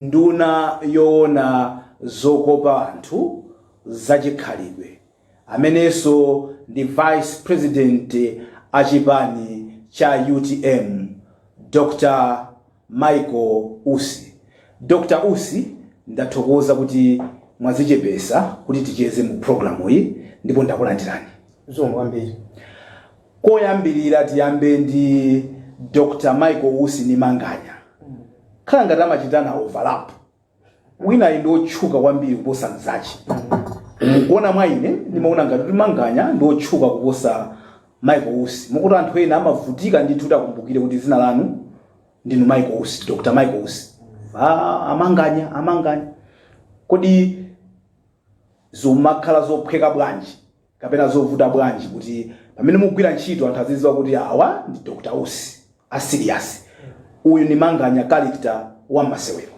Nduna yowona zokopa anthu za chikhalidwe amenenso ndi vice president a chipani cha utm Dr Michael Usi. Dr Usi ndathokoza kuti mwazichepesa kuti ticheze mu programuyi ndipo ndakulandirani. Zikomo kwambiri. Koyambirira tiyambe ndi Dr Michael Usi ndi Manganya. Khala ngati amachitana overlap. Winayu ndi otchuka kwambiri kuposa mzache. Mukuona mwa ine ndimaona ngati kuti Manganya ndi otchuka kuposa Michael Usi. Mokuti anthu ena amavutika ndithu kuti akumbukire kuti dzina lanu ndinu Michael Usi, Dr Michael Usi. Ah, a Manganya, a Manganya. Kodi zimakhala zophweka bwanji? kapena zovuta bwanji kuti pamene mukugwira ntchito anthu aziziwa kuti awa ndi Dr. Usi a serious uyu ndi manganya character wa masewero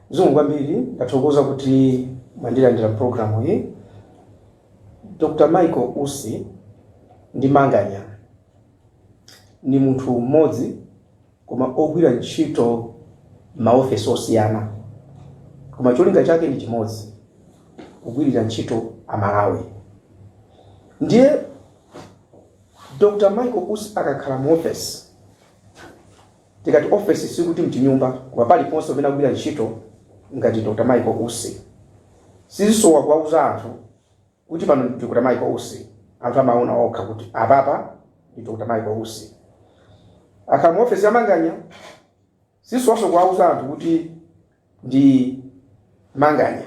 zikomo kwambiri ndathokoza kuti mwandilandira mu programuyi dr michael usi ndi manganya ni munthu mmodzi koma ogwira ntchito m'maofesi osiyana koma cholinga chake ndi chimodzi, kugwirira ntchito Amalawi. Ndiye Dr. Michael Usi akakhala muofesi, tikati ofesi sikuti mchinyumba koma paliponse pamene akugwira ntchito ngati Dr. Michael Usi, sizisowa kuwauza anthu. kuti pano ndi Dr. Michael Usi anthu amaona okha kuti apapa ndi Dr. Michael Usi akakhala mu ofesi ya Manganya sizisowanso kuwauza anthu kuti ndi Manganya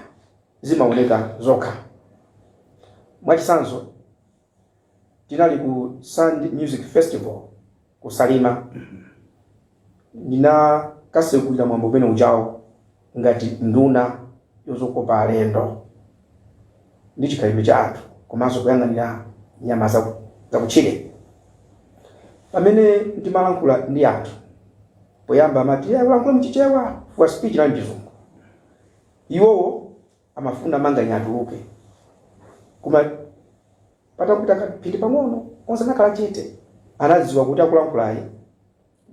zimaoneka zokha mwachitsanzo tinali ku Sand Music Festival ku Salima ndinakasegulira mwambo umene ujawo ngati nduna yozokopa alendo ndi chikhalidwe cha anthu komanso kuyang'anira nyama zaku- zakutchire pamene ndimalankhula ndi anthu poyamba amati "Eh, ulankhule mchichewa chifukwa speech inali mchizungu iwowo amafuna manganya atuluke koma Patapita kamphindi pang'ono, onse anakhala chete. Anadziwa kuti akulankhulayu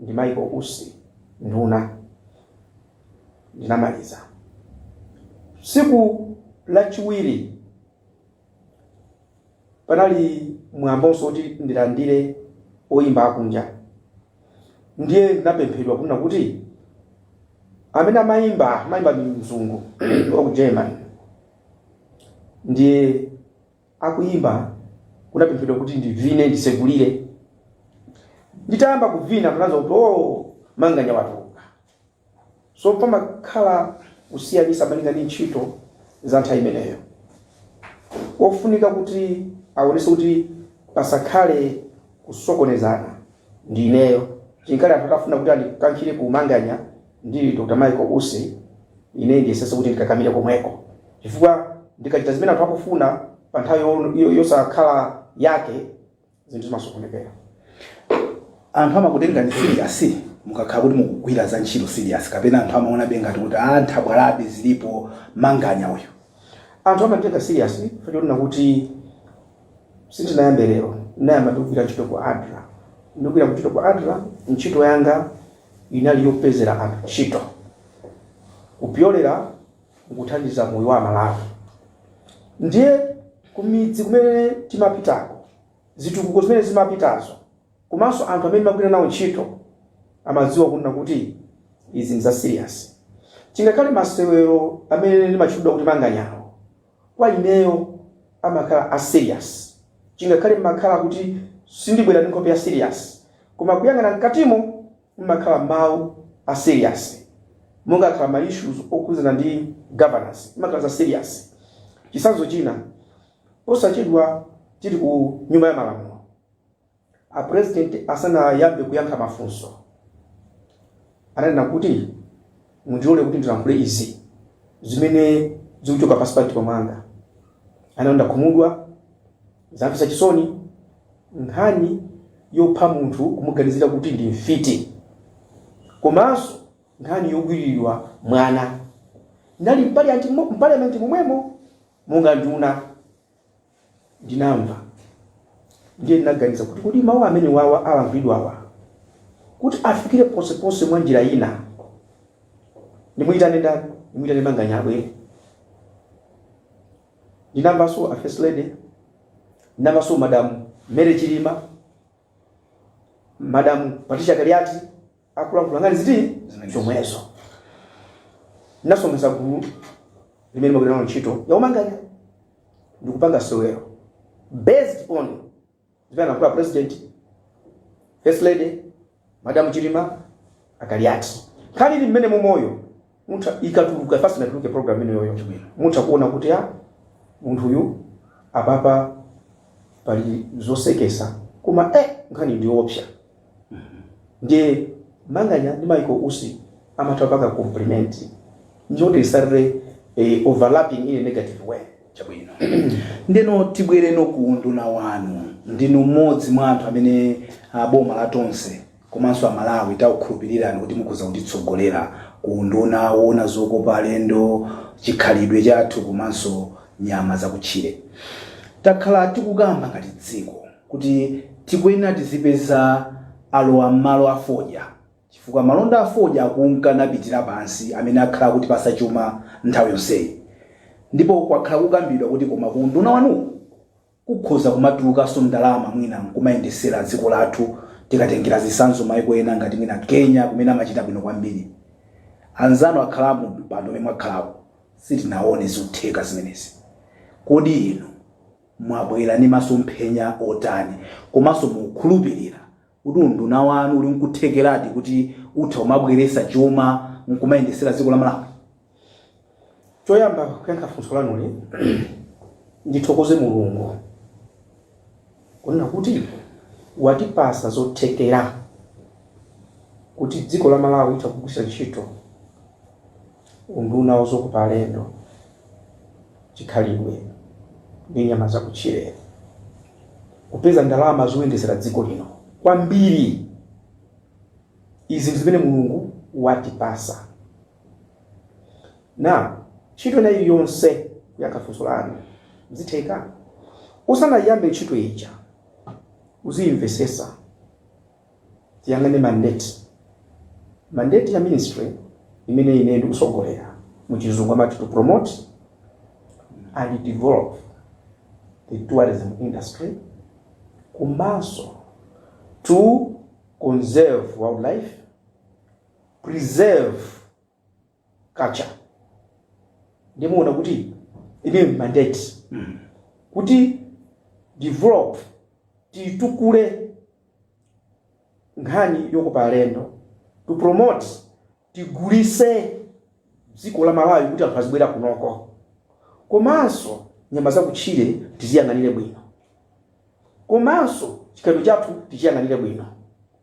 ndi Michael Usi, nduna. Ndinamaliza. Tsiku lachiwiri panali mwambonso woti ndilandire oyimba akunja. Ndiye ndinapemphedwa kunena kuti amene amayimba amayimba ndi mzungu wa ku Germany. Ndiye akuyimba, kunapemphedwa kuti ndivine ndisekulire. Nditayamba kuvina munamva kuti oh manganya watuluka. So pamakhala kusiyanisa malinga ndi ntchito za nthawi imeneyo. Pofunika kuti awonese kuti pasakhale kusokonezana ndi ineyo. Chingakhale anthu akafuna kuti andikankhire ku manganya Ndili Dr. Michael Usi, ine ndiyesetsa kuti ndikakamire komweko, chifukwa ndikachita zimene anthu akufuna pa nthawi yosakhala yake, zinthu zimasokonekera. Anthu amakutengani serious mukakhala kuti mukugwira za ntchito serious, kapena anthu amaonabe ngati kuti a nthabwalabe zilipo, manganya uyu. Anthu amanditenga serious chifukwa chonena kuti sindinayambe lero, ndinayamba ndikugwira ntchito ku adra. Ndikugwira ntchito ku adra, ntchito yanga inali yopezera anthu ntchito kupyolera mukuthandiza moyo wa Amalawi. Ndiye kumidzi kumene timapitako, zitukuko zimene zimapitazo komanso anthu amene timagwira nawo ntchito amadziwa kunena kuti izi ndi za serious. Chingakhale masewero amene ndimatchulidwa kuti manganyawo, kwa ineyo amakhala a serious chingakhale mmakhala kuti sindibwera ndi nkhope ya serious koma kuyang'ana mkatimo mmakhala mawu a serious mumakhala ma issues okhudzana ndi governance mmakhala za serious chitsanzo china posachedwa tili ku nyumba ya malamulo A president asanayambe kuyankha mafunso ananena kuti mundilole kuti ndilankhule izi zimene zikuchoka pansi pa mtima mwanga. Ananena ndakhumudwa, zamvetsa chisoni, nkhani yopha munthu kumuganizira kuti ndi mfiti komanso nkhani yogwiriridwa mwana. Ndinali mpaliamenti momwemo monga nduna. ndinamva. Ndiye ndinaganiza kuti kodi mawu amenewawa alankhulidwawa kuti afikire ponseponse mwa njira ina, ndimuyitane ndani? Ndimuyitane Manganya abwere? Ndinamvanso a First Lady, ndinamvanso Madam Mary Chilima, Madam Patricia Kaliati, akulankhula nkhani ziti zomwezo ndinasonkhetsa gulu limene ndimagwira nalo ntchito yaumanganya ndikupanga sewero based on zimene analankhula president first lady madam chilima akaliati nkhani ili mmenemumoyo mutha ikatuluka first inatuluke program ino yoyo chabwino mutha kuona kuti munthu uyu apapa pali zosekesa koma eh nkhani ndiopsa ndiye manganya ndi maiko usi amatha paka compliment njoti isarre eh, overlapping in a negative way chabwino ndeno tibwereno ku unduna wanu ndinu mmodzi mwa anthu amene ah, boma la tonse komanso a Malawi takukhulupilirani kuti mukhoza kutitsogolera ku unduna owona zokopa alendo, chikhalidwe chathu komanso nyama zakutchire. Takhala tikukamba ngati dziko kuti tikuyenera tizipeza alowa m'malo a fodya chifukwa malonda a fodya akunka napitira pansi amene akhala akutipatsa chuma nthawi yonseyi ndipo kwakhala kukambidwa kuti koma ku unduna wanuwu, Kukhoza kumatulukanso ndalama mwina nkumayendetsera dziko lathu tikatengera zisanzo maiko ena ngati mwina Kenya kumene amachita bwino kwambiri. Anzanu akhala mu mpando umene mwakhalawu sitinaone zotheka zimenezi. Kodi inu mwabwera ndi masomphenya otani komanso mukukhulupirira kuti unduna wanu uli nkuthekeradi kuti utha kumabweretsa chuma nkumayendetsera dziko la malawi choyamba kuyankha funso lanuli ndithokoze mulungu kunena kuti watipatsa zothekera kuti dziko la malawi litha kugwiritsa ntchito Unduna wa Zokopa Alendo, Chikhalidwe ndi Nyama Zakutchire kupeza ndalama zoyendetsera dziko lino kwambiri. Izi ndi zimene Mulungu watipatsa. Now, ntchito ina iliyonse kuyankha funso lanu zitheka. Usanayiyambe ntchito ija uziyimvetsetsa tiyang'ane mandate mandate ya ministry imene ine ndikutsogolera mu chizungu amati to promote and develop the tourism industry komanso to conserve wildlife preserve culture ndiye muona kuti imeyo ndi mandate to develop titukule nkhani yokopa alendo to promote tigulise dziko la malawi kuti anthu azibwera kunoko komanso nyama zakutchire tiziyang'anire bwino komanso chikhalidwe chathu tichiyang'anire bwino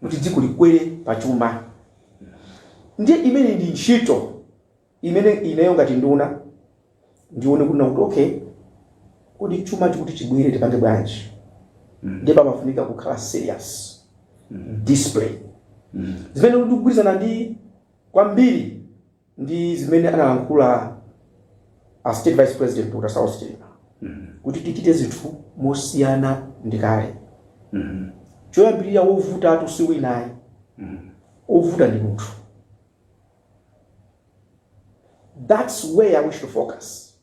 kuti dziko likwere pa chuma. Ndiye imeneyi ndi ntchito imene ineyo ngati nduna ndione kunena kuti okay, kodi chumachi kuti chibwere tipange bwanji? Ndiye pamafunika kukhala serious discipline zimene ndikugwirizana ndi kwambiri ndi zimene analankhula a state vice president dr saulos chilima kuti tichite zinthu mosiyana ndi kale choyambirira wovutatu si wina ayi wovuta ndi munthu that's where i wish to focus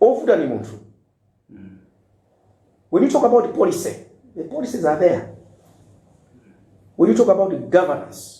wovuta ndi munthu when you talk about the policy the policies are there when you talk about the governance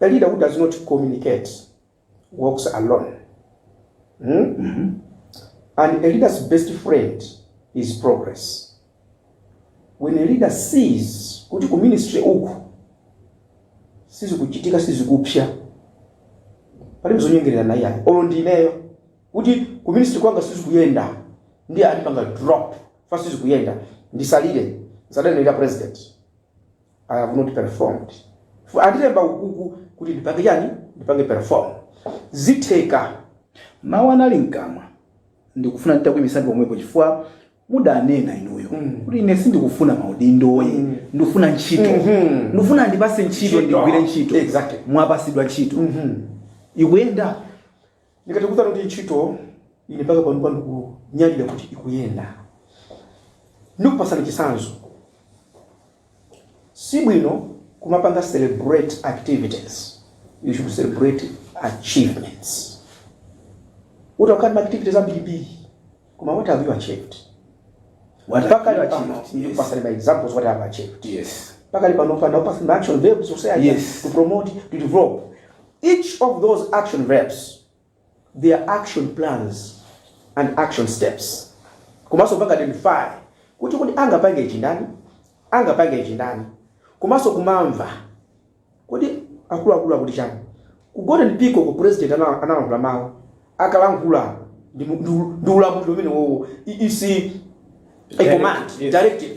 A leader who does not communicate walks alone hmm? and a leader's best friend is progress when a leader sees kuti ku ministry uku sizikuchitika sizikupsa palibe zonyengererana iyayi olo ndineyo kuti ku ministry kwanga sizikuyenda ndiye andipanga drop chifukwa sizikuyenda ndisalire zadanirira president I have not performed. Chifukwa andilemba ukuku kuti ndipange chani? Ndipange perform. Zitheka. Mawu anali mkamwa. Ndikufuna nditakuimisani pomwepo chifukwa mudanena inuyo kuti ine sindikufuna maudindoyi ndikufuna ntchito ndikufuna mundipase ntchito Ntchito. ndigwire ntchito Exactly. mwapasidwa ntchito ikuyenda Ndikhoza kukuwuzani kuti ntchito ine mpaka panopa ndikunyadira kuti ikuyenda. Ndikupasani chitsanzo, sibwino kumapanga celebrate activities, you should celebrate achievements. Utakhala ndi ma activities ambirimbiri. Koma what have you achieved? What have Pakali you pano achieved? Yes. ndikupasani ma examples what I have achieved. Yes. Pakali pano chifukwa anatipasa ma action verbs you say I Yes. to promote to develop. Each of those action verbs there are action plans and action steps. Komanso kupanga identify kuti kuti angapange ichi ndani angapange ichi ndani komanso kumamva Kodi akuluakulu akuti chani? Ku golden peacock president analankhula mau akalankhula ndi ulamuliro umenewowo is a command directive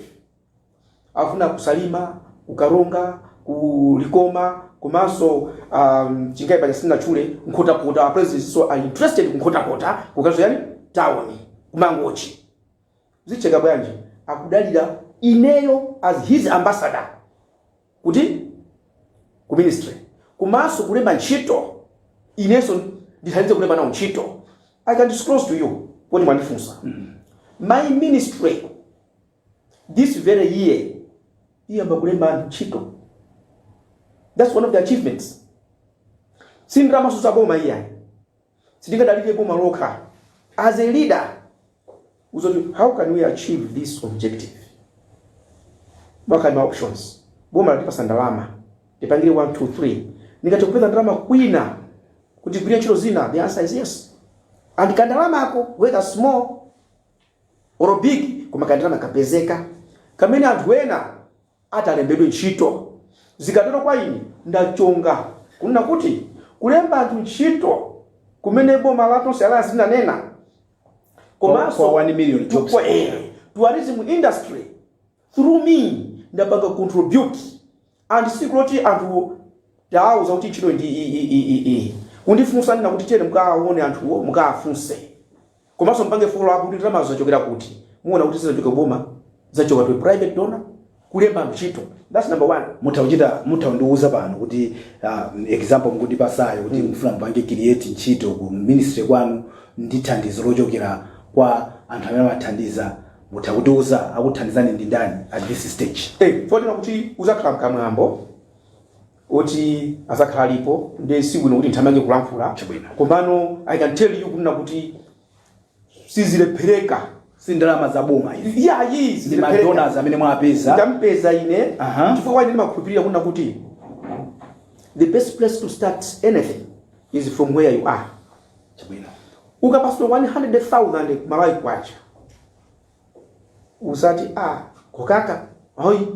afuna ku salima ku karonga ku likoma komanso um, chingani paja sindinatchule nkhotakota apresidentso ali interested ku nkhotakota kukadzakhala town kumangochi zitheka bwanji akudalira ineyo as his ambassador kuti ku ministry komanso kulemba ntchito inenso ndithandize kulemba nawo ntchito i can disclose to you poti mwandifunsa my ministry this very year iyamba kulemba anthu ntchito that's one of the achievements sindidaliranso zaboma iyayi sitingadalire boma lokha as a leader udziti how can we achieve this objective pakhale ma options boma latipasa ndalama tipangire 1 2 3 ndingathe kupeza ndalama kwina kuti tigwire ntchito zina the answer is yes and kandalamako whether small or big koma kandalama kapezeka kamene anthu ena atalembedwe ntchito. Zikatero kwa ine ndachonga kunena kuti kulemba anthu ntchito kumene boma la Tonse Alliance linanena komanso 1 million jobs tourism industry through me ndapanga contribute and sikuli koti anthu tawauza kuti ntchito ndi iyi kundifunsa ndinena kuti tiyeni mukaone anthuwo mukafunse Komanso mpange follow up kuti ndalamazo zachokera kuti. Muona kuti sizachoka ku boma, zachoka to a private donor, kulemba ntchito. That's number one. Mutha kuchita, mutha kundiuza pano kuti uh, example mukundipasayo kuti mufuna mupange create ntchito ku ministry kwanu ndi thandizo lochokera kwa anthu amene amathandiza. Mutha kutiuza akuthandizani ndi ndani at this stage. Eh, podziwa kuti uzakhala mkamwambo. oti adzakhala alipo nde sibwino kuti nthamange kulankhula Chabwino. komano i can tell you kunena kuti sizilephereka si ndalama za boma izi yayi ndi madonors amene mwapeza ndampeza ine Aha. chifukwa chani ndimakhulupirira kunena kuti the best place to start anything is from where you are chabwino ukapatsidwa 100,000 malawi kwacha usati a kokaka ayi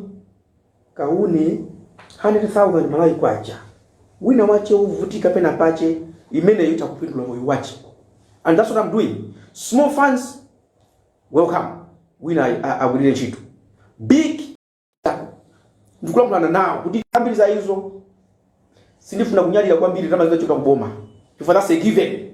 Kauni, 100,000 Malawi kwacha, wina wache wovutika pena pache imeneyo itha kupindula moyo wache and that's what am doing small funds welcome wina agwilire ntchito big ndikulankhulana nawo kuti ambiri za izo sindifuna kunyadira kwambiri ndalama zinachoka kuboma chifukwa that's a given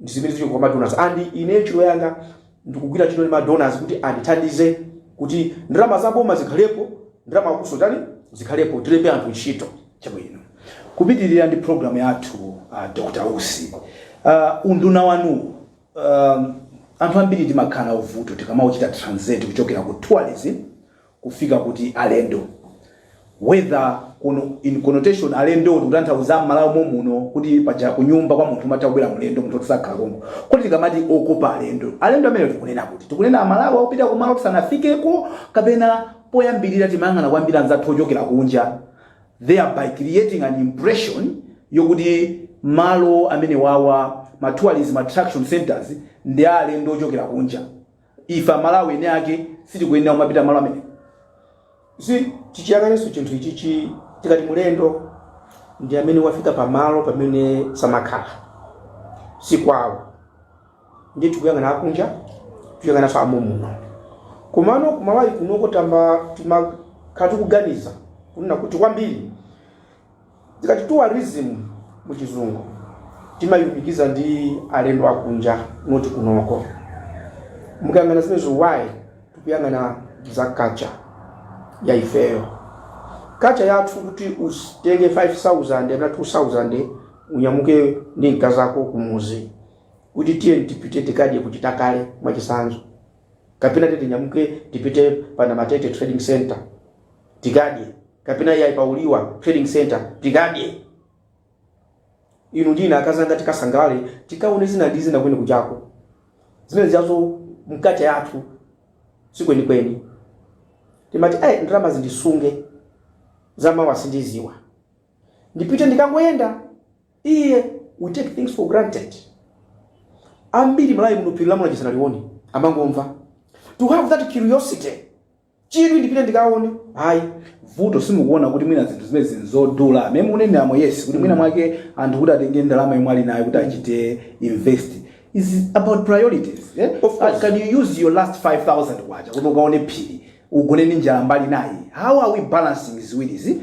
ndi zimene zili kwa madonors and ine ntchito yanga ndikugwira ntchito ndi madonors kuti andithandize kuti ndalama za boma zikhalepo ndalama zakusowa tani zikhalepo tilembe anthu ntchito chabwino kupitirira ndi programu yathu uh, dr usi uh, unduna wanu um, anthu ambiri timakhala ndi vuto tikamauchita translate kuchokera ku tourism kufika kuti alendo whether kuno in connotation alendo ndikutanthauza mmalawi momuno kuti paja kunyumba kwa munthu amatha kubwera mlendo munthu otisakhala konko kuti tikamati okopa alendo alendo amene tikunena kuti tikunena amalawi akupita kumalo tisanafikeko kapena poyambirira timayang'ana kwambiri anzathu ochokera kunja thereby creating an impression yokuti malo amene wawa ma tourism attraction centers ndi a alendo ochokera kunja ife amalawi ene ake sitikuyenera kumapita malo amene si tichiyang'anenso chinthu ichichi tikati mlendo ndi amene wafika pamalo pamene samakhala si kwawo ndiye tikuyang'ana akunja tikuyang'ananso amomuno komano kumalawi kunoko timakhala tikuganiza kunena kuti kwambiri Tikati tourism mu chizungu timayilumikiza ndi alendo akunja not kunoko. Mukayang'ana zimenezo why tikuyang'ana za culture ya ifeyo. Culture yathu kuti utenge 5000 kapena 2000 unyamuke ndi mkazako kumudzi kuti tiyeni tipite tikadye ku Chitakale mwachitsanzo, kapena tiyeni tinyamuke tipite pa Namatete trading center. tikadye kapena iyayi pa uliwa trading center tikadye inu ndine akazanga tikasangalale tikaone zina ndi zina kweni kuchako zimenezo mu culture yathu sikwenikweni timati ayi ndalama ndisunge zamawa sindidziwa ndipite ndikangoyenda iye we take things for granted ambiri m'Malawi muno phiri la Mulanje sanalione amangomva to have that curiosity chidwi ndipite ndikaone ayi vuto simukuona kuti mwina zinthu zimenezi ndi zodula mmene mukuneneramo yes kuti mwina mwake anthu kuti atenge ndalama yomwe ali nayo kuti achite invest is about priorities eh? Of course. can you use your last 5000 kwacha kuti ukaone phiri ugone ndi njala mbali inayi how are we balancing ziwirizi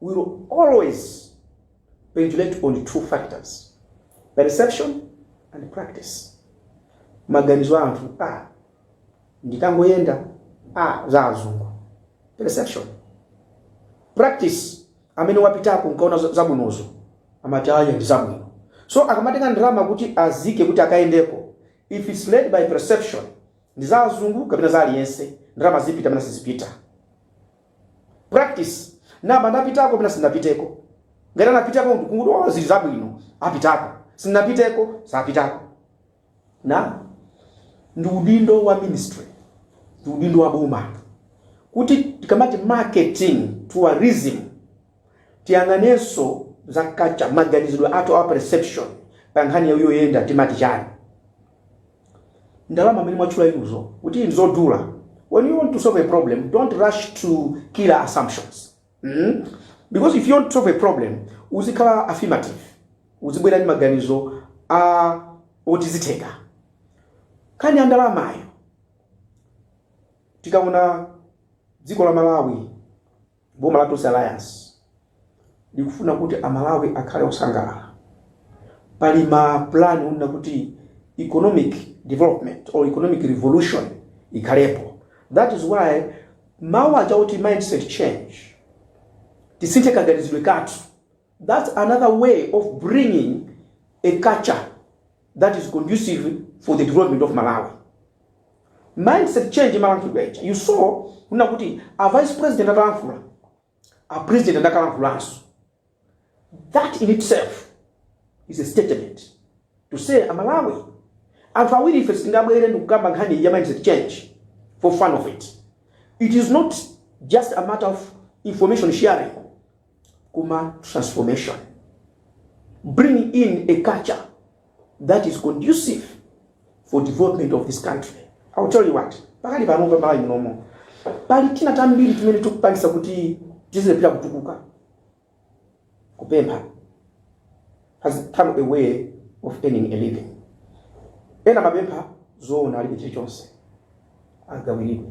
will always pendulate on two factors, perception and practice. Maganizo a anthu a ndikangoyenda a za azungu perception practice amene wapitako nkukaona za- zabwinozo amati aaa ndi zabwino so akamatenga ndalama kuti aike kuti akayendeko if its led by perception ndi za azungu kapena za aliyense ndalama zipita kapena sizipita practice ndinapitako kapena sinapiteko ngati anapitako kuti oh, zili zabwino apitako sinapiteko sapitako na ndi udindo wa ministry ndi udindo wa boma kuti tikamati marketing tourism tiyang'anenso za culture maganizidwe athu a perception pa nkhani yoyenda timati chani ndalama mmene mwatchula inuzo kuti ndizodula when you want to solve a problem don't rush to killer assumptions mm? because if you want to solve a problem uzikhala affirmative uzibwera ndi maganizo oti zitheka nkhani ya ndalamayo tikaona dziko la malawi Boma la Tonse Alliance likufuna kuti a Malawi akhale osangalala. Pali ma plan onena kuti economic development or economic revolution ikhalepo. That is why mawu aja oti mindset change, tisinthe kaganizidwe kathu, that's another way of bringing a culture that is conducive for the development of Malawi. Mindset change amalankhula ija. You saw kunena kuti a vice president atalankhula, a president anakalankhulanso. That in itself is a statement to say a Malawi anthu awiri ife sitingabwere ndikukamba nkhani ya mindset change for fun of it. It is not just a matter of information sharing. kuma transformation bring in a culture that is conducive for development of this country i will tell you what pakali pano pa malawi munomo pali tinthu tambiri timene tikupangisa kuti tizilephera kutukuka kupempha has become a way of earning a living ena amapempha zoona alibe chilichonse agawiridwe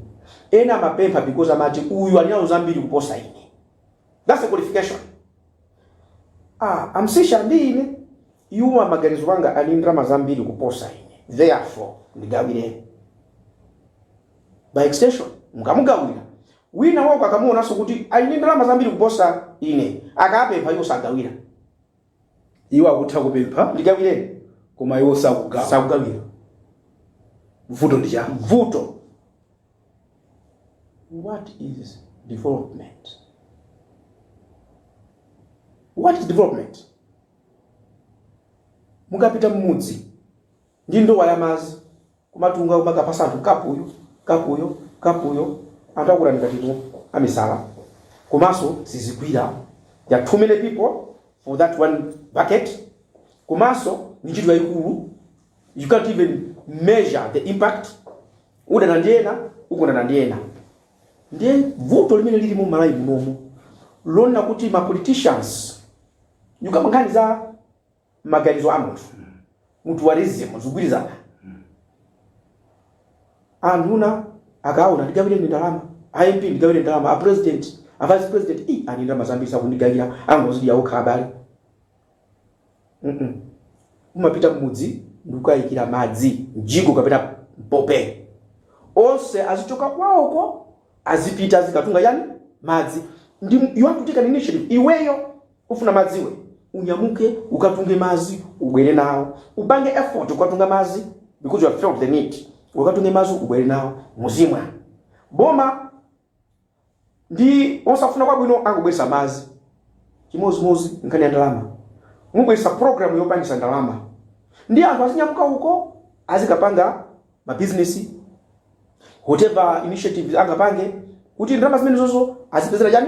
ena amapempha because amati uyu ali nazo zambiri kuposa ine that's the qualification ah a Msiska ndi ine iwo maganizo anga ali ndalama zambiri kuposa ine therefore ndigawireni by extension mukamugawira winawake akamuonanso kuti ali ndi ndalama zambiri kuposa ine akapempha iwo sagawira iwo akutha kupempha ndigawireni koma iwo sakugawa sakugawira vuto ndi chani vuto what is development what is development mukapita mmudzi ndi ndowa ya madzi kumatunga kumakapatsa anthu kapu iyo kapu iyo kapu iyo anthu akutani ngati inu amisala komanso sizigwira there are too many people for that one bucket komanso ndi ntchito yayikulu you can't even measure the impact udana ndi ena ukondana ndi ena ndiye vuto limene lili mu malawi munomo lonena kuti ma politicians nyuka nkhani za maganizo a munthu mutualism zikugwirizana anduna akaona ndigawireni ndalama a mp ndigawire ndalama a president a vice president i ali ndalama zambiri sakundigawira angozidya okha abale Mm-mm. umapita mmudzi ndikukaikira madzi mjigo kapena mpope onse azichoka kwawoko azipita azikatunga yani madzi ndi you have to take an initiative iweyo Ukufuna madzi iwe? Unyamuke ukatunge madzi ubwere nawo. Upange effort kukatunga madzi because you have felt the need. Ukatunge madzi ubwere nawo muzimwa. Boma ndi lofuna kwabwino angobweretsa madzi. Chimodzimodzi nkhani ya ndalama. Mubweretsa program yopangisa ndalama. Ndi anthu azinyamuka uko azikapanga ma business whatever initiatives angapange kuti ndalama zimenezozo azipezera chani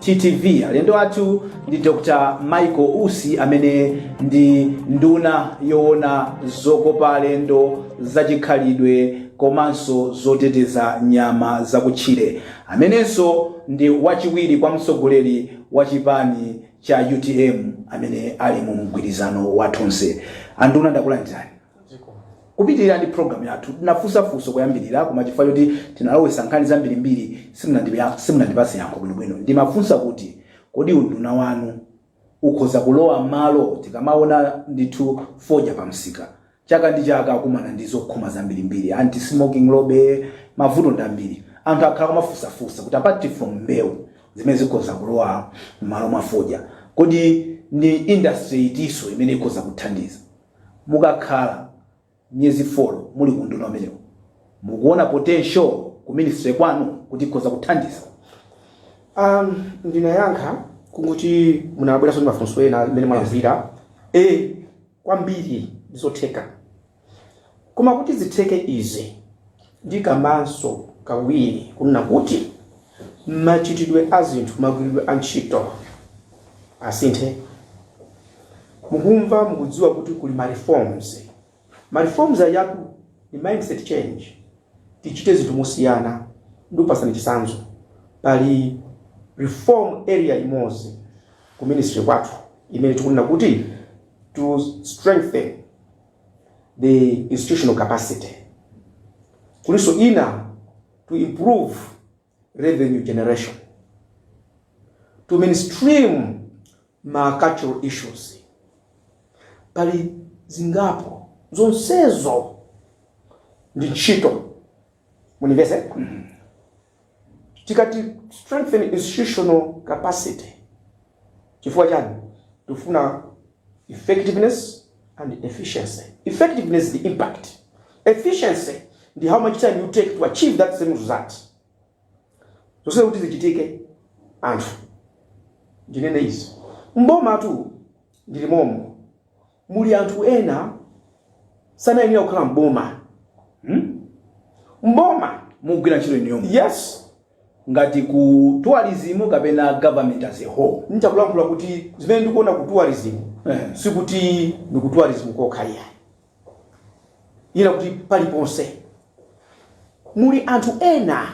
TTV alendo athu ndi Dr. Michael Usi amene ndi nduna yoona zokopa alendo zachikhalidwe komanso zoteteza nyama zakutchire amenenso ndi wachiwiri kwa mtsogoleri wa chipani cha utm amene ali mu mgwirizano wa tonse anduna ndakulandirani kupitirira ndi program yathu tinafunsa funso kuyambirira koma chifukwa choti tinalowesa nkhani zambirimbiri simunandipa- simunandipatse yankho bwinobwino ndimafunsa kuti kodi unduna wanu ukhoza kulowa malo tikamaona ndithu fodya pa msika chaka ndi chaka akumana ndi zokhoma zambirimbiri anti smoking lobby mavuto ndi ambiri anthu akhala kumafunsafunsa kuti apart from mbewu zimene zikhoza kulowa m'malo mwa fodya kodi ndi industry itinso imene ikhoza kuthandiza mukakhala miyezi folo muli ku unduna umenewu mukuona potential ku ministry kwanu kuti ikhoza kuthandiza Um, ndinayankha kungoti munabweranso ndi mafunso ena amene mwalakwira e kwambiri ndizotheka koma kuti zitheke izi Ndikambenso kawiri kunena kuti machitidwe a zinthu, magwiridwe a ntchito asinthe. Mukumva, mukudziwa kuti kuli ma reforms. Ma reforms ajatu ndi mindset change. Tichite zinthu mosiyana. Ndikupatsani chitsanzo. Pali reform area imodzi ku ministry kwathu imene tikunena kuti to strengthen. the institutional capacity kulinso ina to improve revenue generation to mainstream ma cultural issues pali zingapo zonsezo ndi ntchito mundimvetse tikati strengthen institutional capacity chifukwa chani tifuna effectiveness and efficiency effectiveness the impact efficiency ndi how much time you take to achieve that same result zonsezo kuti zichitike anthu ndinene izi m'bomatu ndili momo muli anthu ena sanayenera kukhala m'boma hmm? m'boma mukugwira ntchito inuyo yes ngati ku tourism kapena government as a whole nchakulankhula kuti zimene ndikuona ku tourism eh. sikuti ndi ku tourism kokha iyayi nanga kuti paliponse muli anthu ena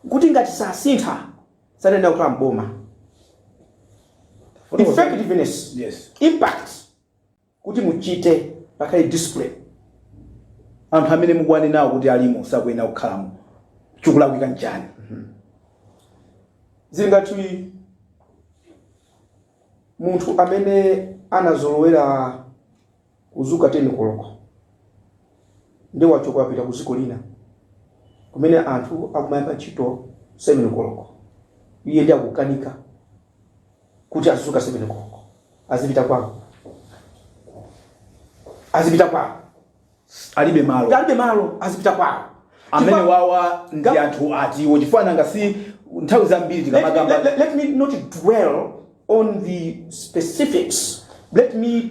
kuti ngati sasintha sanayenera kukhala m'boma effectiveness Yes. impact kuti muchite pakhale discipline anthu amene mukuwanenawo kuti alimo sakuyenera kukhalamo chikulakwika nchani zili ngati munthu amene anazolowera Kudzuka 10 koloko nde wachoka wapita ku dziko lina kumene anthu akumayamba ntchito 7 koloko, iye nde akukanika kuti azidzuka 7 koloko azipita kwawo, azipita kwawo alibe malo alibe malo azipita kwawo amene Chifukwa- wawa ndi gulu- anthu atiwo chifukwa nanga si nthawi zambiri let, tikamakamba let, let, let me not dwell on the specifics let me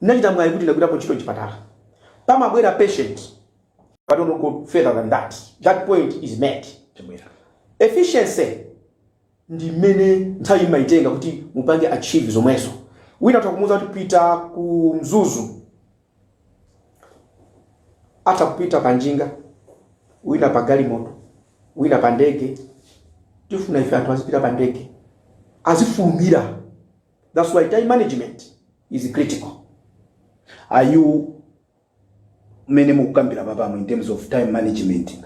Ndinachita mwayi kuti ndagwirako ntchito mchipatala. Pamabwera patient but don't go further than that, that point is made. Chabwera. Efficiency ndi mmene nthawi mmayitenga kuti mupange achieve zomwezo. Wina atha kumuuza kuti pita ku Mzuzu, atha kupita pa njinga, wina pa galimoto, wina pa ndege. Tifuna ife anthu azipita pa ndege, azifulumira. That's why time management is critical. Are you mmene mukukambira papamu in terms of time management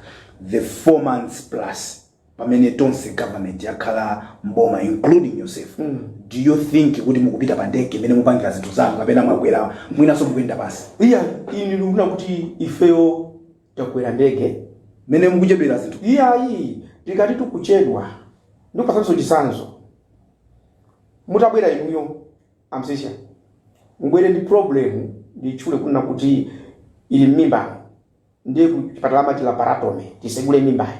the four months plus pamene tonse government yakhala mboma including yourself mm. do you think kuti mukupita pa ndege imene mupangira zinthu zanu kapena mwakwera mwinanso mukuyenda pansi iyayi ine ndikuona kuti ifeyo takwera ndege mmene mukuchedwera zinthu iyayi tikati tikuchedwa ndikupatsani chisanzo mutabwera inuyo a Msiska mubwere ndi problem ndiyitchule kunena kuti ili m'mimba ndiye ku chipatala amati laparatomy tisegule mimbayo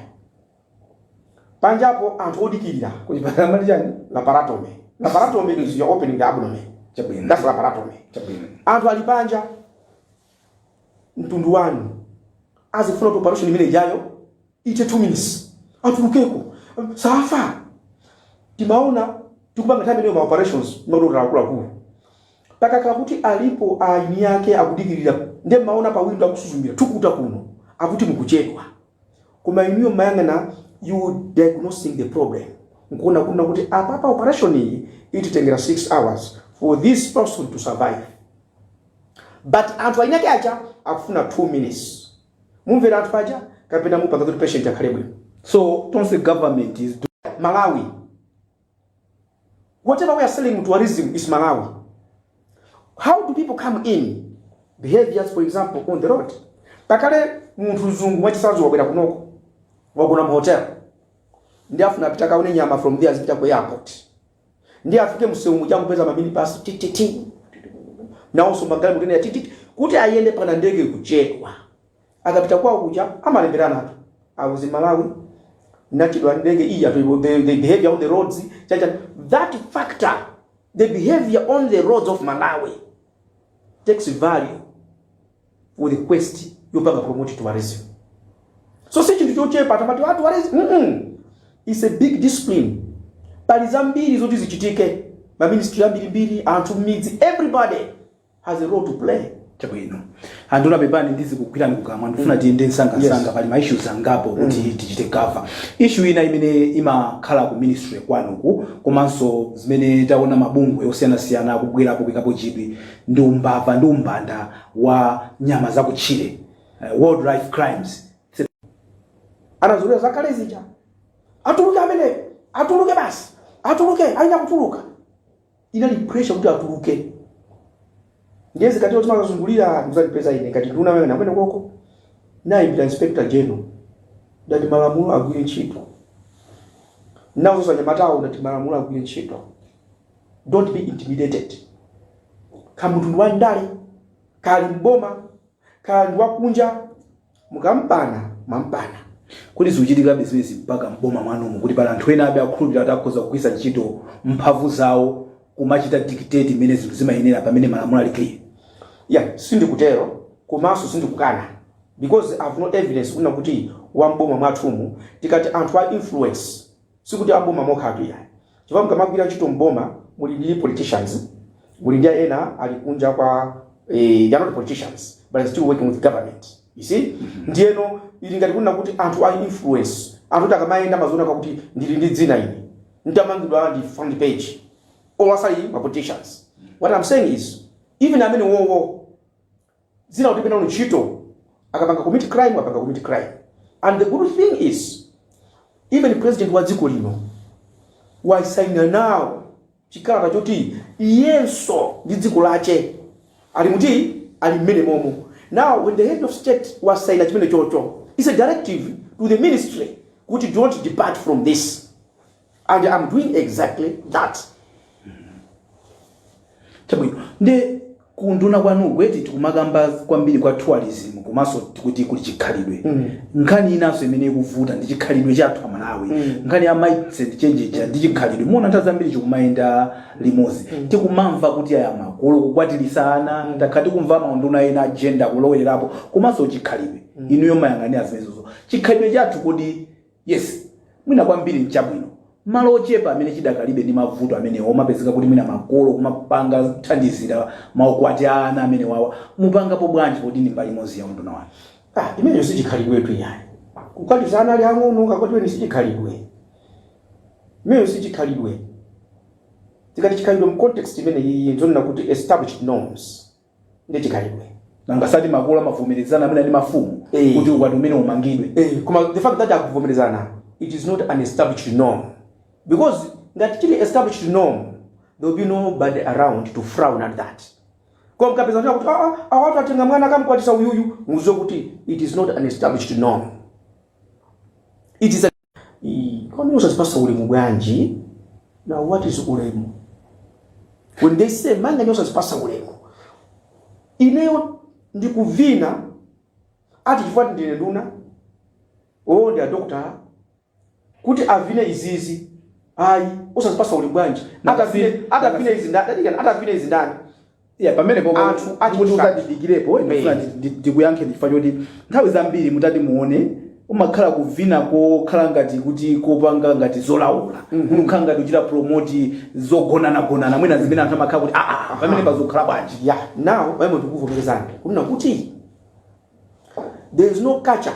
panjapo anthu odikirira kuchipatala mwati chani laparatomy laparatomy is your opening the abdomen chabwino that's laparatomy chabwino anthu ali panja mtundu wanu ukufuna kuti operation imene ijayo ithe 2 minutes atulukeko safa timaona tikupanga nthawi imeneyo ma operations madokotala akuluakulu pakakhala kuti alipo eni ake akudikirira nde maona pa windo akusuzumira thukuta kuno akuti mukuchedwa koma inuyo mumayang'ana you diagnosing the problem nkuona kunena kuti apapa operation iyi ititengera 6 hours for this person to survive but anthu eniake aja akufuna 2 minutes mumvera anthu aja kapena mupanga kuti patient akhale bwino so tonse government is doing malawi whatever we are selling to tourism is malawi how do people come in behaviors for example on the road pakale munthu mzungu mwachitsanzo wabwera kunoko wagona mu hotel ndiye akufuna apita kaone nyama from there azipita ku airport ndiye afike mumsewu muja akupeza maminibasi tititi nawonso magalimoto ena tititi kuti ayende pana ndege kuchedwa akapita kwawo kuja amalemberanatu how is malawi nachedwa ndege iyi atoiwo the, the behavior on the roads chacha that factor the behavior on the roads of malawi takes value for the quest yopanga promote tourism so si chinthu chochepa tamati a tourism mm -mm. is a big discipline pali zambiri zoti zichitike maministry ambirimbiri anthu mmidzi everybody has a role to play chabwino anduna pepani ndizikugwirani pakamwa ndifuna tiyende msangamsanga pali ma issues angapo kuti tichite cover issue ina imene imakhala ku ministry kwanuku komanso zimene taona mabungwe osiyanasiyana akubwerapo kuikapo chidwi ndi umbava ndi umbanda wa nyama za kutchire uh, wildlife crimes anazolowera zakale zija atuluke amene atuluke basi atuluke ayi nakutuluka inali pressure kuti atuluke ndiye zikati otima akazungulira muzandipeza ine ngati nduna amene amene koko ndayimbira inspector general ndati malamulo agwire ntchito ndafunsa anyamatawo ndati malamulo agwire ntchito don't be intimidated kaya munthu ndi wandale kaya ali mboma kaya ndi wakunja mukampana mwampana kodi zikuchitikabe zimenezi mpaka mboma mwanumu kuti pali anthu ena ake akukhulupirira kuti akhoza kugwiritsa ntchito mphamvu zawo kumachita dictate mmene zinthu zimayendera pamene malamulo ali clear ya sindikutero komanso sindikukana because i've no evidence kunena kuti a mboma mwathumu tikati anthu a influence sikuti a m'boma mokhatu iyayi chifukwa mukamagwira ntchito m'boma muli ndi politicians muli ndi aja ena ali kunja kwa eh, they are not politicians but they still working with government you see ndiyeno ili ngati kunena kuti anthu a influence anthu oti akamayenda amadziona kuti ndili ndi dzina ine nditamangidwa ndi front page or asali ma politicians what i'm saying is even amene wowo dzina kuti pena ntchito akapanga commit crime apanga commit crime and the good thing is even president wa dziko lino wasaina nawo chikalata choti iyenso ndi dziko lache ali muti ali mmene momo now when the head of state wasaina chimenechocho is a directive to the ministry kuti don't depart from this and am doing exactly that chabwino nde kunduna kwanu kweni tikumakamba kwambiri kwa tourism komanso kuti kuli chikhalidwe nkhani inanso imene ikuvuta ndi chikhalidwe chathu amalawi nkhani ya mindset change ija ndi chikhalidwe muwona nthawi zambiri chikumayenda limodzi tikumamva kuti aya makolo kukwatiritsa ana takhala tikumva maunduna ena a gender kulowererapo komanso chikhalidwe inuyo mumayang'anira zimenezozo chikhalidwe chathu kodi Yes. Mwina kwambiri n'chabwino. M'malo ochepa amene chidakalibe ndi mavuto amenewa kumapezeka kuti mwina makolo kumapanga kuthandizira maukwati a ana amenewawa mupangapo bwanji poti ndi mbali imodzi ya unduna wanu? Ah, imeneyo sichikhalidwetu iyayi. Kukwatiza ana ali ang'ono ukakwatiweni sichikhalidwe. Imeneyo sichikhalidwe. Tikati chikhalidwe mu context imene iyi tikunena kuti established norms. ndi chikhalidwe nanga sati makolo amavomerezana mwina ndi mafumu Eh. kuti ukwati umene umangidwe Eh, koma the fact that akuvomerezana it is not an established norm because ngati chili established norm there will be nobody around to frown at that koma mukapeza anthu akuti "Ah, ah, awatu atenga mwana akamkwatitsa uyuyu mudziwe kuti it is not an established norm it is a Ii, kodi osadzipatsa ulemu bwanji now what is ulemu when they say manganje osadzipatsa ulemu ineyo ndikuvina ati chifukwa ndine nduna oo ndi adokotala kuti avine izizi ayi osadzipatsa ulemu bwanji atavine atavine izi ndani atavine izi ndani Yeah, pamene popo Anthu mukuti achitsanzo. tadikiranipo ine ndifuna ndi- ndi- ndikuyankheni chifukwa choti nthawi zambiri mutati muone kumakhala kuvina kokhala ngati kuti kopanga ngati zolaula kuti ukhala ngati uchita promoti zogonanagonana mwina zimene anthu amakhala kuti aa pamene padzakhala bwanji ya now pamene ndikuvomerezana kunena kuti there is no culture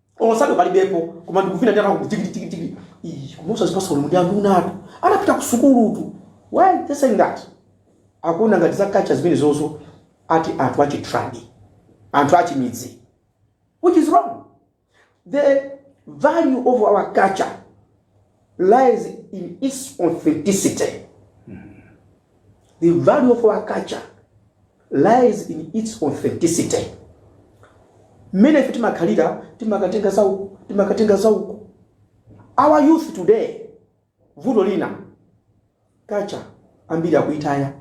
Olo sadu palibepo koma ndikuvina ndi anthu akuti tikiti tikiti tikiti. Ii koma osadzipatsa ulemu ndi anthu inutu. Anapita ku sukulutu. Why they saying that? Akuona ngati za culture zimenezozo ndi za anthu achi tribe. Anthu achimidzi. Which is wrong. The value of our culture lies in its authenticity. The value of our culture lies in its authenticity. Mmene ife timakhalira timakatenga za uku, timakatenga za uku. Our youth today, vuto lina, culture ambiri akuitaya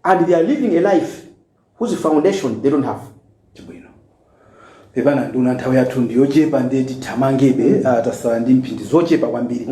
and they are living a life whose foundation they don't have. Chabwino. pepani nduna nthawi yathu ndi yochepa ndiye tithamangebe ah, tasala ndi mphindi zochepa kwambiri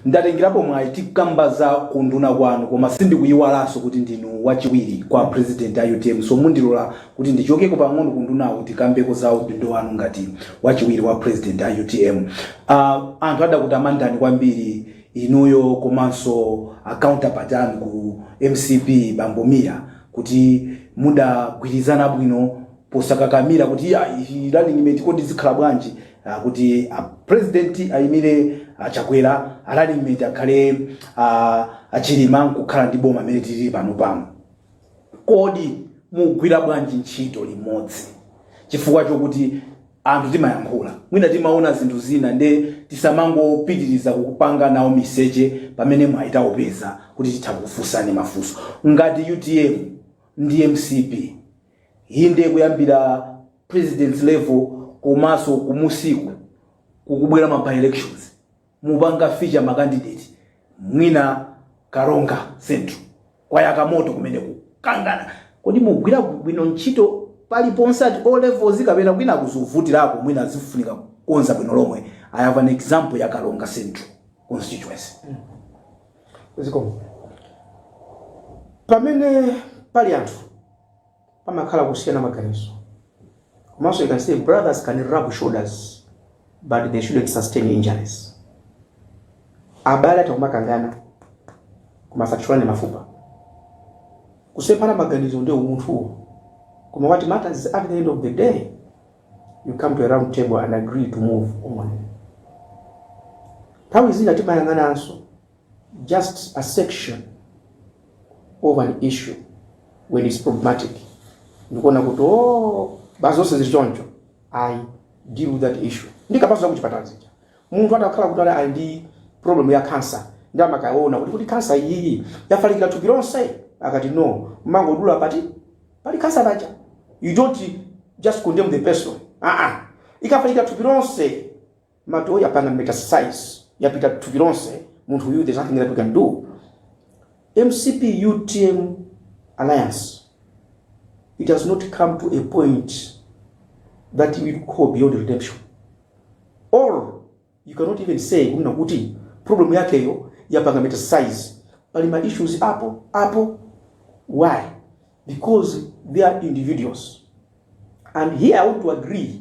ndatengerapo mwayi tikamba za kunduna kwanu koma sindikuyiwalanso kuti ndinu wachiwiri kwa president a utm so mundilola kuti ndichokeko pang'ono kundunawo tikambeko za udindo wanu ngati wachiwiri wa president a utm Ah, anthu adakutamandani kwambiri inuyo komanso acounterpart anu ku mcp bambo Mia kuti mudagwirizana bwino posakakamira kuti ya running mate kodi zikhala bwanji ah, kuti a president ayimire ah, chakwera a running mate akhale ah, achilima nkukhala ndi boma amene tili pano pano kodi mugwira bwanji ntchito limodzi chifukwa chokuti anthu timayankhula mwina timaona zinthu zina nde tisamangopitiriza kupanga nawo miseche pamene mwayi taupeza kuti titha kufunsani mafunso ngati utm ndi mcp Inde kuyambira president level komanso kumusiku kukubwera ma by elections mupanga feature ma candidate mwina karonga central kwayaka moto kumene kukangana kodi mugwirako bwino ntchito paliponse at all levels kapena kwina kuzivutirako mwina zifunika kukonza bwino lomwe i have an example ya karonga central constituency zikomo pamene pali anthu pamakhala kusiyana maganizo komanso I can say brothers can rub shoulders but they shouldn't sustain injuries abale atha kumakangana koma asathyolane mafupa kusemphana maganizo ndi umunthuwo koma what matters is at the end of the day you come to a round table and agree to move on nthawi zina timakangananso just a section of an issue when it's problematic nkuona kuti o basi zonse zili choncho i deal with that issue ndikapaso zakuchipatala zija munthu atakhala kuti ali ali ndi problem ya cancer nde amakaona kuti kuti cancer iyiyi yafalikira thupi lonse akati no amangodula pali cancer paja you don't just condemn the person ah ah ikafalikira thupi lonse matoyi apanga metastasize yapita thupi lonse munthu uyu there's nothing that we can do mcp utm alliance it has not come to a point that we call beyond redemption or you cannot even say kunena kuti problem yakeyo yapanga metastasize pali ma issues apo apo why because they are individuals and here i want to agree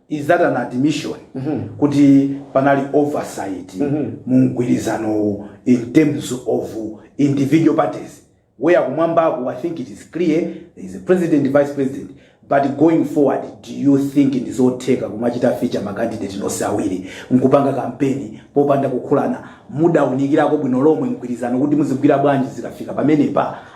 Is that an admission kuti panali oversight mu mgwirizanowu in terms of individual parties where kumwambaku I think it is clear there is president vice president but going forward do you think ndi zotheka kumachita feature ma candidate nonse awiri nkupanga kampeni popanda kukhulana mudaunikirako bwino lomwe mgwirizano kuti muzigwira bwanji zikafika pamenepa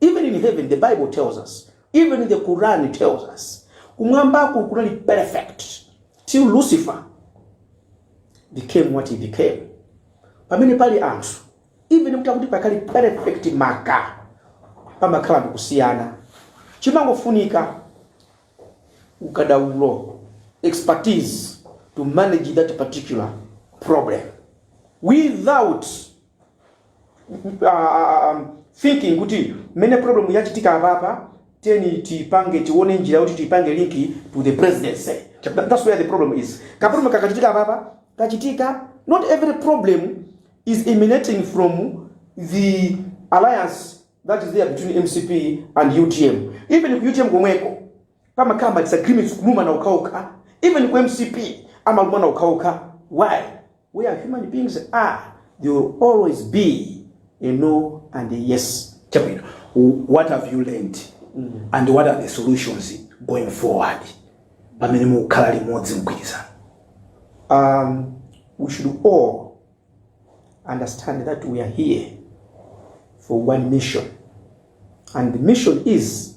Even in heaven the bible tells us, even in the Quran tells us, kumwambaku kunali perfect until Lucifer became what he became. Pamene pali anthu even mutakuti pakhale perfect koma pamakhalabe kusiyana chimangofunika ukadaulo expertise to manage that particular problem without thinking kuti mmene problem yachitika apapa tiyeni tipange tione njira yoti tipange link to the presidency That- that's where the problem is kaproblem kakachitika apapa kachitika, not every problem is emanating from the alliance that is there between mcp and utm even ku utm komweko pamakhala ma disagreements kulumana okhaokha even ku mcp amalumana okhaokha why we are human beings are there will always be a no and a yes chabwino what have you learned mm. and what are the solutions going forward pamene mukukhala limodzi mgwirizano um, we should all understand that we are here for one mission and the mission is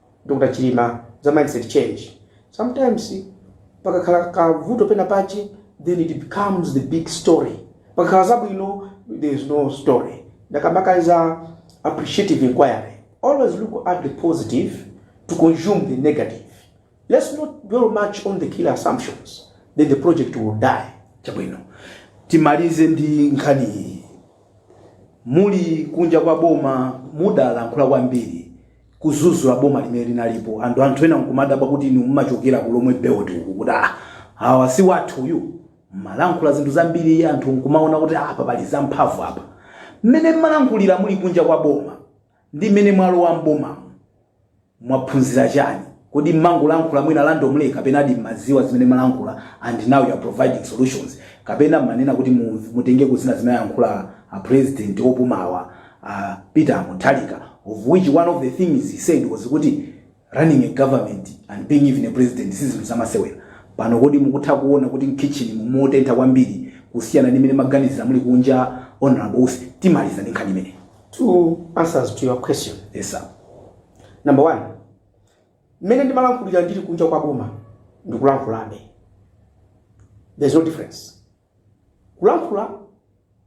Dr Chilima za mindset change sometimes pakakhala kavuto pena pache then it becomes the big story pakakhala zabwino there is no story ndakamba kale za appreciative inquiry always look at the positive to consume the negative let's not dwell much on the killer assumptions then the project will die chabwino timalize ndi nkhani iyi muli kunja kwa boma mudalankhula kwambiri kuzuzula boma limene linalipo and anthu ena nkumadabwa kuti inu mmachokera ku lomwe belt uku kuti ah awa si athu uyu mmalankhula zinthu zambiri anthu nkumaona kuti apa pali zamphamvu apa mmene mmalankhulira muli kunja kwa boma ndi mmene mwalowa m'bomamo mwaphunzira chani kodi mmangolankhula mwina randomly kapena kodi mmadziwa zimene mmalankhula and now you are providing solutions kapena mmanena kuti mu- mutengeko zina zimene ayankhula a president opumawo a peter mutharika of which one of the things he said was kuti running a government and being even a president si zinthu zamasewera pano kodi mukutha kuona kuti mu kitchen muno motentha kwambiri kusiyana ndi mmene mmaganizira muli kunja honorable usi timaliza ndi nkhani imeneyi two answers to your question yes sir number one mmene ndimalankhulira ndili kunja kwa boma ndikulankhulabe there's no difference kulankhula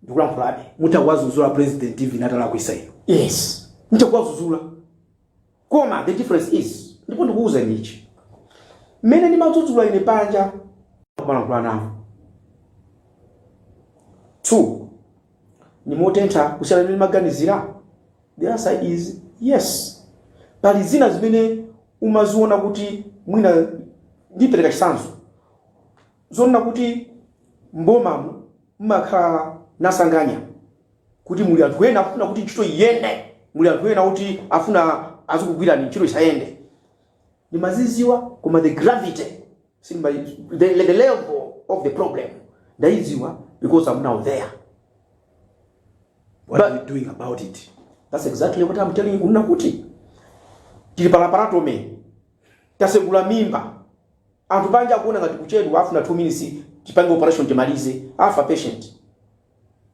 ndikulankhulabe mutha kuwazuzula president even atalakwisa inu yes nditha kuwazuzula koma the difference is ndipo ndikuuzani ichi mmene ndimadzudzula ine panja kumalankhula nawo two ndi motentha kusiyana ndi mmene ndimaganizira the answer is yes pali zina zimene umaziona kuti mwina ndipereka chitsanzo N'zoona kuti m'bomamu mumakhala nasanganya kuti muli anthu ena akufuna kuti ntchito iyende, muli anthu ena oti afuna azikugwirani ntchito isayende. Ndimazidziwa koma the gravity sindima the, the level of the problem ndaidziwa because I'm now there. What are we doing about it? That's exactly what I'm telling you kunena kuti tili pa laparotomy tasegula mimba Anthu panja akuona ngati kuchedwa afuna 2 minutes tipange operation timalize afa patient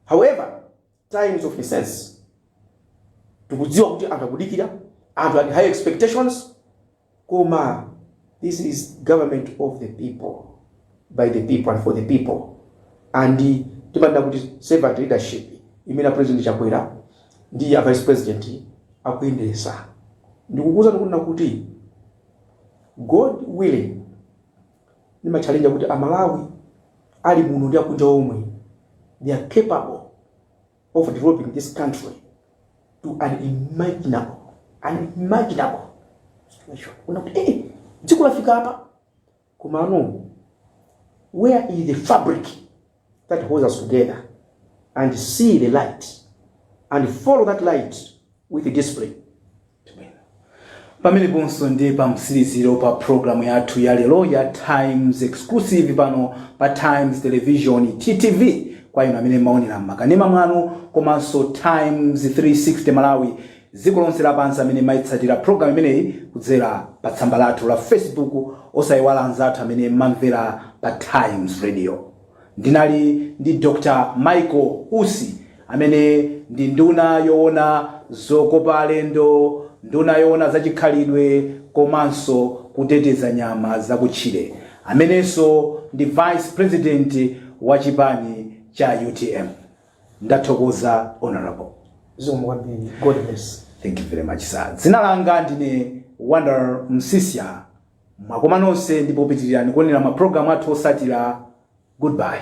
however time is of essence tikudziwa kuti anthu akudikira anthu ali ndi high expectations koma this is government of the people by the people and for the people and timanena kuti servant leadership imene president chakwera ndi a vice president akuyendesa ndikukuza ndikunena kuti God willing ndimatchalenja kuti a Malawi ali muno ndi akunja omwe they are capable of developing this country to unimaginable unimaginable situation kunena kuti eh dziko lafika apa komano where is the fabric that holds us together and see the light and follow that light with discipline. pameneponso ndi pa mtsiliziro pa programu yathu ya lero ya times exclusive pano pa times television ttv kwa inu amene mmaonera mmakanema mwanu komanso times 360 malawi dziko lonse lapansi amene mmaitsatira program imeneyi kudzera pa tsamba lathu la facebook osaiwala anzathu amene mmamvera pa times radio ndinali ndi dr michael usi amene ndi nduna yoona zokopa alendo nduna yoona zachikhalidwe komanso kuteteza nyama zakutchire amenenso ndi vice president wa chipani cha utm ndathokoza honorable zikomo kwambiri god bless thank you very much sir dzina langa ndine wonder msiska mwakoma nonse ndipo pitirirani kuonera mapulogalamu athu otsatira goodbye